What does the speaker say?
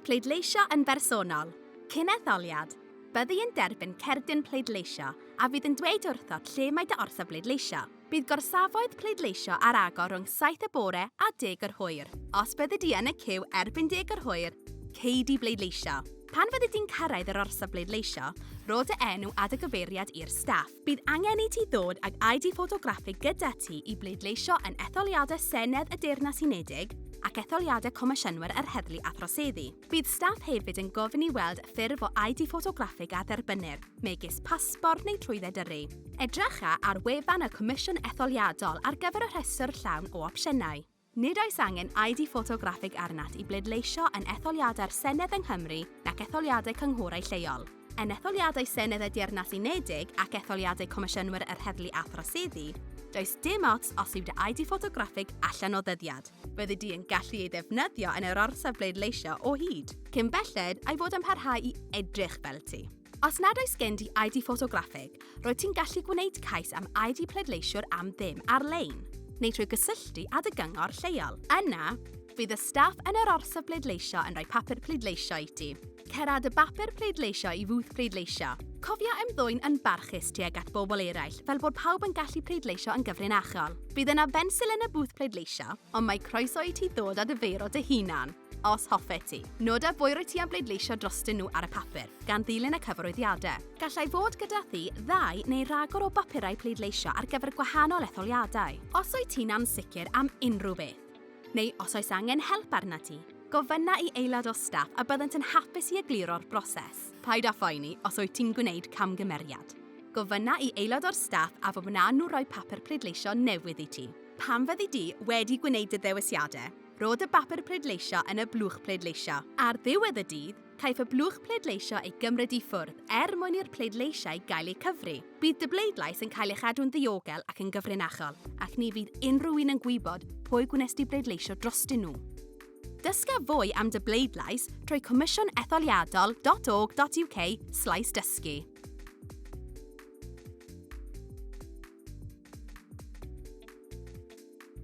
Pleidleisio yn bersonol, Cyn etholiad, byddi yn derbyn cerdyn pleidleisio a fydd yn dweud wrthot lle mae dy orsaf bleidleisio. Bydd gorsafoedd pleidleisio ar agor rhwng saith y bore a deg yr hwyr. Os byddi di yn y ciw erbyn deg yr hwyr, cei di bleidleisio. Pan fyddi di'n cyrraedd yr orsaf bleidleisio, rho dy enw a dy gyfeiriad i'r staff. Bydd angen i ti ddod ag ID ffotograffig gyda ti i bleidleisio yn etholiadau Senedd y Deyrnas Unedig ac etholiadau Comisiynwyr yr Heddlu a Throseddu. Bydd staff hefyd yn gofyn i weld ffurf o ID ffotograffig a dderbynnir, megis pasbort neu trwydded yrru. Edrycha ar wefan y Comisiwn Etholiadol ar gyfer y rhestr llawn o opsiynau. Nid oes angen ID ffotograffig arnat i bleidleisio yn etholiadau'r Senedd yng Nghymru nac etholiadau cynghorau lleol. Yn etholiadau Senedd y Deyrnas Unedig ac etholiadau Comisiynwyr yr Heddlu a Throseddu, does dim ots os yw dy ID ffotograffig allan o ddyddiad. Byddi di yn gallu ei ddefnyddio yn yr orsaf bleidleisio o hyd. Cyn belled a'i fod yn parhau i edrych fel ti. Os nad oes gen di ID ffotograffig, roedd ti'n gallu gwneud cais am ID pleidleisiwr am ddim ar-lein, neu trwy gysylltu â dy gyngor lleol. Yna, bydd y staff yn yr orsaf bleidleisio yn rhoi papur pleidleisio i ti. Cera dy bapur pleidleisio i fwth pleidleisio. Cofia ymddwyn yn barchus tuag at bobl eraill fel bod pawb yn gallu pleidleisio yn gyfrinachol. Bydd yna fensil yn y bwth pleidleisio, ond mae croeso i ti ddod â dy feiro dy hunan. os hoffet ti. Noda bwy rwyt ti am bleidleisio drostyn nhw ar y papur, gan ddilyn y cyfarwyddiadau. Gallai fod gyda thi ddau neu ragor o bapurau pleidleisio ar gyfer gwahanol etholiadau. Os wyt ti'n ansicr am unrhyw beth, neu os oes angen help arnat ti, gofynna i aelod o staff a byddant yn hapus i egluro'r broses. Paid â phoeni os wyt ti'n gwneud camgymeriad. Gofynna i aelod o'r staff a fe wnawn nhw roi papur pleidleisio newydd i ti. Pan fyddi di wedi gwneud dy ddewisiadau, Rhod y bapur pleidleisio yn y blwch pleidleisio. Ar ddiwedd y dydd, caiff y blwch pleidleisio ei gymryd i ffwrdd er mwyn i'r pleidleisiau gael eu cyfri. Bydd dy bleidlais yn cael ei chadw'n ddiogel ac yn gyfrinachol, ac ni fydd unrhyw un yn gwybod pwy gwnes di bleidleisio drostyn nhw. Dysga fwy am dy bleidlais trwy comisiwnetholiadol.org.uk slaes dysgu.